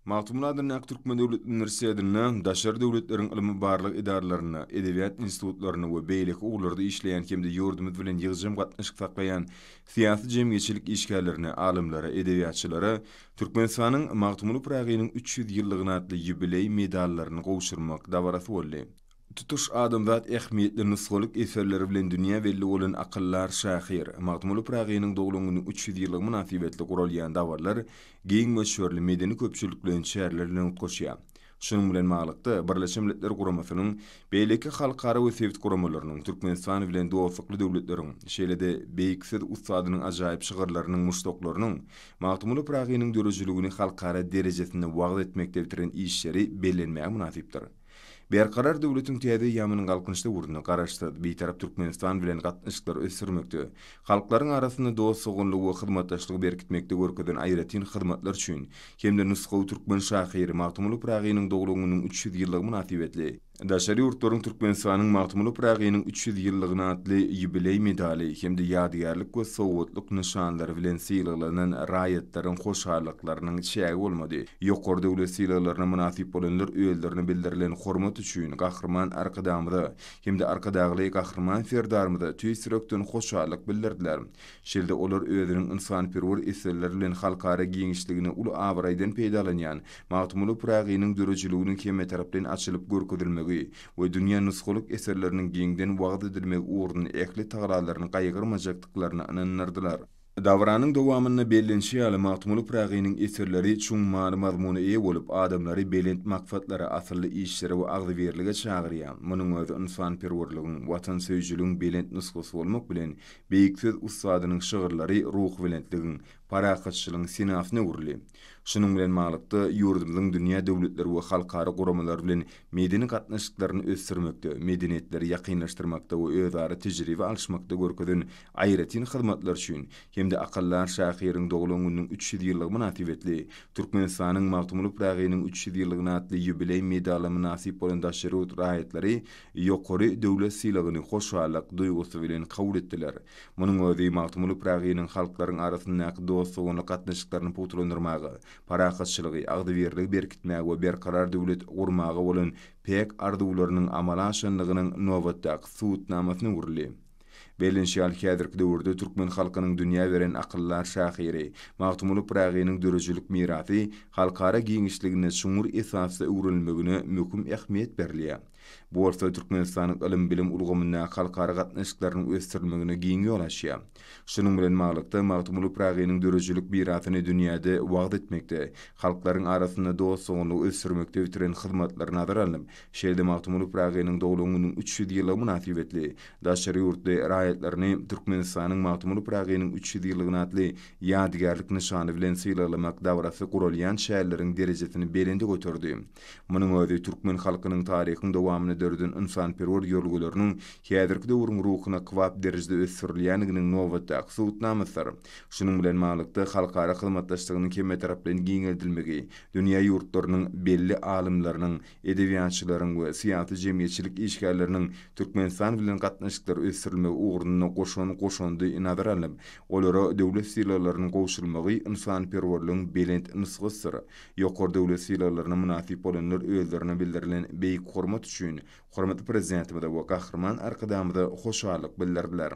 Magtymguly adyndaky Türkmen döwlet uniwersitetinde, daşary döwletleriň ylmy-barlag edaralarynda, edebiýat institutlarynda we beýleki ugurlarda işleýän hem-de ýurdumyz bilen ýygjam gatnaşyk saklaýan syýasy-jemgyýetçilik işgärlerine, alymlara, edebiýatçylara Türkmenistanyň Magtymguly Pyragynyň üç ýüz ýyllygyna atly ýubileý medallaryny gowşurmak dabarasy boldy. Tutuş adamzat ähmiýetli nusgalyk eserleri bilen dünýä belli bolan akyldar şahyr Magtymguly Pyragynyň doglan güni üç ýüz ýyllygy mynasybetli guralýan dabarlar giň möçberli medeni-köpçülikleýin çäreler bilen utgaşýar. Şunuň bilen baglylykda, Birleşen Milletler Guramasynyň, beýleki halkara we sebit guramalarynyň, Türkmenistan bilen dostlukly döwletleriň, şeýle-de beýik söz ussadynyň ajaýyp şygyrlarynyň muşdaklarynyň Magtymguly Pyragynyň döredijiligini halkara derejesinde wagyz etmekde bitiren işleri bellenmäge mynasypdyr. Berkarar döwletiň täze ýaman galkynyş döwründe Garaşsyz, Bitarap Türkmenistan bilen gatnaşyklary ösdürmekde, halklaryň arasynda dost-doganlygy we hyzmatdaşlygy berkitmekde görkezen aýratyn hyzmatlary üçin hem-de nusgawy türkmen şahyry Magtymguly Pyragynyň doglan gününiň üç ýüz ýyllygy mynasybetli Daşary ýurtlaryň Türkmenistanyň Magtymguly Pyragynyň üç ýüz ýyllygyna atly ýubileý medaly hem-de ýadygärlik we sowgatlyk nyşanlary bilen sylaglanan raýatlaryň hoşallyklarynyň çägi bolmady. Ýokary döwlet sylaglaryna mynasyp bolanlar özlerine bildirilen hormat üçin Gahryman Arkadagymyza hem-de Arkadagly Gahryman Serdarymyza tüýs ýürekden hoşallyk bildirdiler. Şeýle-de olar özüniň ynsanperwer eserleri bilen halkara giňişligine uly abraýdan peýdalanýan Magtymguly Pyragynyň döredijiliginiň hemmetaraplaýyn açylyp görkezilmegi we dünýä nusgalyk eserleriniň giňden wagyz edilmegi ugrunda ähli tagalalaryny gaýgyrmajakdyklaryna ynandyrdylar. Dabaranyň dowamynda bellenişi ýaly, Magtymguly Pyragynyň eserleri çuň many-mazmuna eýe bolup, adamlary belent maksatlara, asylly işlere we agzybirlige çagyrýar. Munuň özi ynsanperwerligiň, watansöýüjiligiň belent nusgasy bolmak bilen, beýik söz ussadynyň şygyrlary ruhubelentligiň, parahatçylygyň senasyna öwrüldi. Şunuň bilen baglylykda, ýurdumyzyň dünýä döwletleri we halkara guramalary bilen medeni gatnaşyklaryny ösdürmekde, medeniýetleri ýakynlaşdyrmakda we özara tejribe alyşmakda görkezen aýratyn hyzmatlary üçin hem-de akyldar şahyryň doglan gününiň üç ýüz ýyllygy mynasybetli Türkmenistanyň Magtymguly Pyragynyň üç ýüz ýyllygyna atly ýubileý medalyna mynasyp bolan daşary ýurt raýatlary ýokary döwlet sylagyny hoşallyk duýgusy bilen kabul etdiler. Munuň özi Magtymguly Pyragynyň halklaryň arasyndaky dost-doganlyk gatnaşyklaryny pugtalandyrmaga, parahatçylygy, agzybirligi berkitmäge we berkarar döwlet gurmaga bolan päk arzuwlarynyň amala aşandygynyň nobatdaky subutnamasyna öwrüldi. Bellenişi ýaly, häzirki döwürde türkmen halkynyň dünýä beren akyldar şahyry Magtymguly Pyragynyň döredijilik mirasy halkara giňişliginde çuňňur esasda öwrenilmegine möhüm ähmiýet berilýär. Bu bolsa Türkmenistanyň ylym-bilim ulgamyndaky halkara gatnaşyklarynyň ösdürilmegine giň ýol açýar. Şunuň bilen baglylykda, Magtymguly Pyragynyň döredijilik mirasyny dünýäde wagyz etmekde, halklaryň arasynda dost-doganlygy ösdürmekde bitiren hyzmatlary nazara alnyp, şeýle-de Magtymguly Pyragynyň doglan gününiň üç ýüz ýyllygy mynasybetli Daşary ýurtly raýatlaryny Türkmenistanyň Magtymguly Pyragynyň üç ýüz ýyllygyny atly ýadygärlik nyşany bilen sylaglamak dabarasy guralýan şäherleriň derejesini belende göterdi. Munuň özi türkmen halkynyň taryhyň dowamynda döreden ynsanperwer ýörelgelerini häzirki döwrüň ruhuna kybap derejede ösdürilýändiginiň nobatdaky subutnamasydyr. Şunuň bilen baglylykda, halkara hyzmatdaşlygynyň hemmetaraplaýyn giňeldilmegi, dünýä ýurtlarynyň belli alymlarynyň, edebiýatçylaryň we syýasy-jemgyýetçilik işgärleriniň Türkmenistan bilen gatnaşyklary ösdürilmegi ugrunda goşan goşandy nazara alnyp, olara döwlet sylaglarynyň gowşurylmagy ynsanperwerligiň belent nusgasydyr. Ýokary döwlet sylaglaryna mynasyp bolanlar özlerine bildirilen beýik hormat üçin hormatly Prezidentimize we Gahryman Arkadagymyza hoşallyk bildirdiler.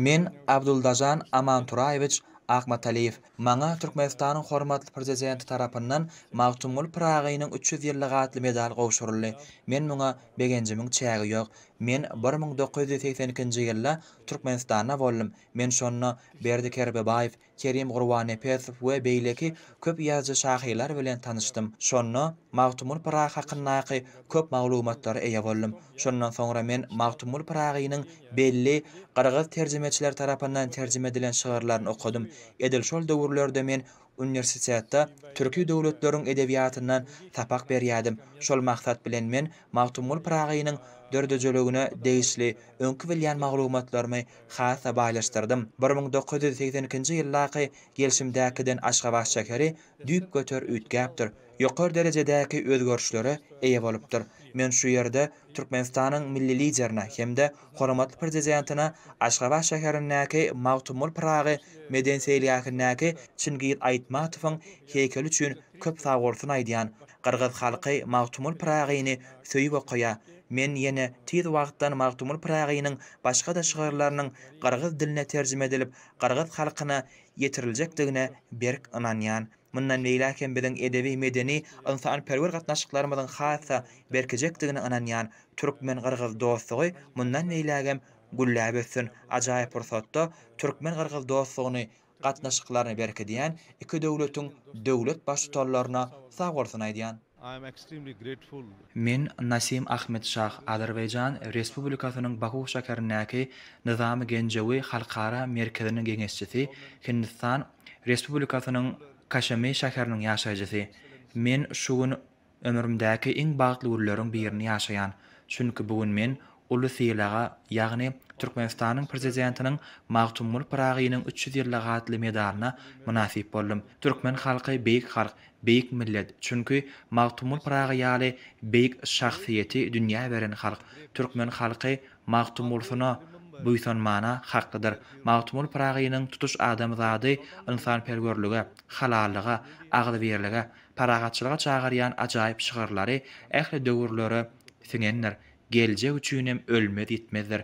Men, Abduldažan Amanturaýewiç Akmataliýew, maňa Türkmenistanyň hormatly Prezidenti tarapyndan Magtymguly Pyragynyň üç ýüz ýyllygy atly medal gowşuryldy. Men muňa begenjimiň çägi ýok. Men bir müň dokuz ýüz segsen ikinji ýylda Türkmenistanda boldum. Men şonda Berdi Kerbebaýew, Kerim Gurbannepesow we beýleki köp ýazyjy-şahyrlar bilen tanyşdym. Şonda Magtymguly Pyragy hakyndaky köp maglumatlara eýe boldum. Şondan soňra men Magtymguly Pyragynyň belli gyrgyz terjimeçileri tarapyndan terjime edilen şygyrlaryny okadym. Edil şol döwürlerde men uniwersitetde türki döwletleriň edebiýatyndan sapak berýärdim. Şol maksat bilen men Magtymguly Pyragynyň döredijiligine degişli öňki bilýän maglumatlarymy Has-da baýlaşdyrdym. Bir müň dokuz ýüz segsen ikinji ýyldaky gelşimdäkiden Aşgabat şäheri düýpgöter üýtgäpdir, ýokary derejedäki özgerişlere eýe bolupdyr. Men şu ýerde Türkmenistanyň Milli Liderine hem-de Hormatly Prezidentine Aşgabat şäherindäki Magtymguly Pyragy medeni-seýilgähindäki Çingiz Aýtmatowyň heýkeli üçin köp sagbolsun aýdýan Gyrgyz halky Magtymgul Pyragyny söýüp okaýar. Men ýene tiz wagtdan Magtymgul Pyragynyň başga-da şygyrlarynyň gyrgyz diline terjime edilip, gyrgyz halkyna ýetiriljekdigine berk ynanýan. Mundan beýläk hem biziň edebi-medeni, ynsanperwer gatnaşyklarymyzyň has-da berkejekdigine ynanýan. Türkmen-gyrgyz dostlugy mundan beýlägem gülläp össün. Ajaýyp pursatda türkmen-gyrgyz dostlugyny gatnaşyklaryny berkidýän iki döwletiň döwlet Baştutanlaryna sag bolsun aýdýan. Men Nasim Ahmedşah Azerbaýjan Respublikasynyň Baku şäherindäki Nyzamy Genjewi Halkara merkeziniň geňeşçisi, Hindistan Respublikasynyň Kaşemi şäheriniň ýaşaýjysy. Men şu gün Ömrümdäki iň bagtly günleriň birini ýaşaýan, çünki bu gün men uly sylaga, ýagny Türkmenistanyň Prezidentiniň Magtymguly Pyragynyň üç ýüz ýyllyk atly medalyna mynasyp boldum. Türkmen halky beýik halk, beýik millet, çünki Magtymguly Pyragy ýaly beýik şahsyýeti dünýä beren halk. Türkmen halky Magtymgulsyna buýsanmana haklydyr. Magtymguly Pyragynyň tutuş adamzady ynsanperwerlige, halallyga, agzybirlige, parahatçylyga çagyrýan ajaýyp şygyrlary ähli döwürlere siňendir, geljek üçinem ölmez-ýitmezdir.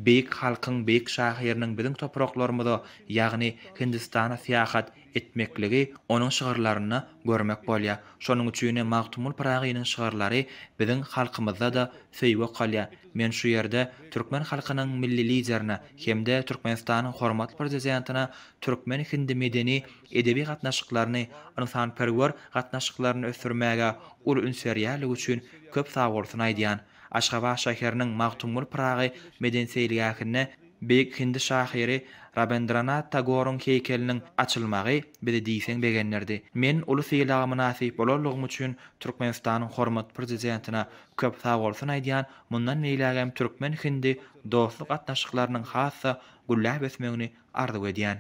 Beýik halkyň, beýik şahyrynyň biziň topraklarymyza, ýagny Hindistana syýahat etmekligi onuň şygyrlarynda görmek bolýar. Şonuň üçinem Magtymguly Pyragynyň şygyrlary biziň halkymyzda-da söýgi okalýar. Men şu ýerde türkmen halkynyň Milli Liderine hem-de Türkmenistanyň Hormatly Prezidentine türkmen-hindi medeni edebi gatnaşyklaryny, ynsanperwer gatnaşyklaryny ösdürmäge uly üns berýärligi üçin köp sagbolsun aýdýan. Aşgabat şäheriniň Magtymgul Pyragy medeni-seýilgähinde beýik hindi şahyry Rabendranat Tagoryň heýkeliniň açylmagy bizi diýseň begendirdi. Men uly sylaga mynasyp bolanlygym üçin Türkmenistanyň hormatly Prezidentine köp sagbolsun aýdýan, mundan beýlägem türkmen-hindi dostluk gatnaşyklarynyň has-da gülläp ösmegini arzuw edýän.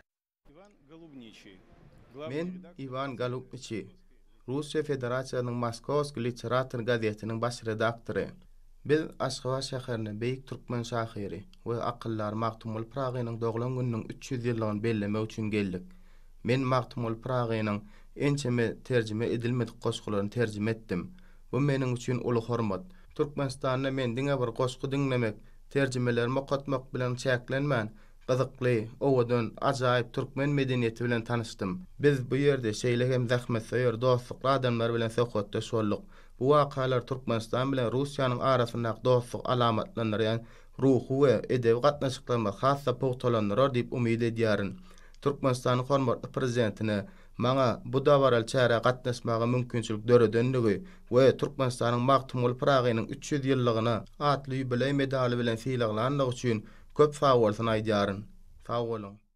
Men Iwan Golubniçi, Russiýa Federasiýasynyň Moskowskiý literator gazetiniň baş redaktory. Biz Aşgabat şäherinde beýik türkmen şahyry we akyldary Magtymguly Pyragynyň doglan gününiň üç ýüz ýyllygyny bellemek üçin geldik. Men Magtymguly Pyragynyň ençeme terjime edilmedik goşgularyny terjime etdim. Bu meniň üçin uly hormat. Türkmenistanda men diňe bir goşgy diňlemek, terjimelerimi okatmak bilen çäklenmän, Gyzykly, owadan, ajaýyp türkmen medeniýeti bilen tanyşdym. Biz bu ýerde şeýle hem zähmetsöýer, dostlukly adamlar bilen söhbetdeş bolduk. Bu wakalar Türkmenistan bilen Russiýanyň arasyndaky dostlugy alamatlandyrýan ruhy we edebi gatnaşyklarymyzy has-da pugtalandyrar diýip umyt edýärin. Türkmenistanyň hormatly Prezidentine, maňa bu dabaraly çärä gatnaşmaga mümkinçilik döredendigi we Türkmenistanyň Magtymguly Pyragynyň üç ýüz ýyllygyna atly ýubileý medaly bilen sylaglandygy üçin köp sagbolsun aýdýaryn. Sag boluň!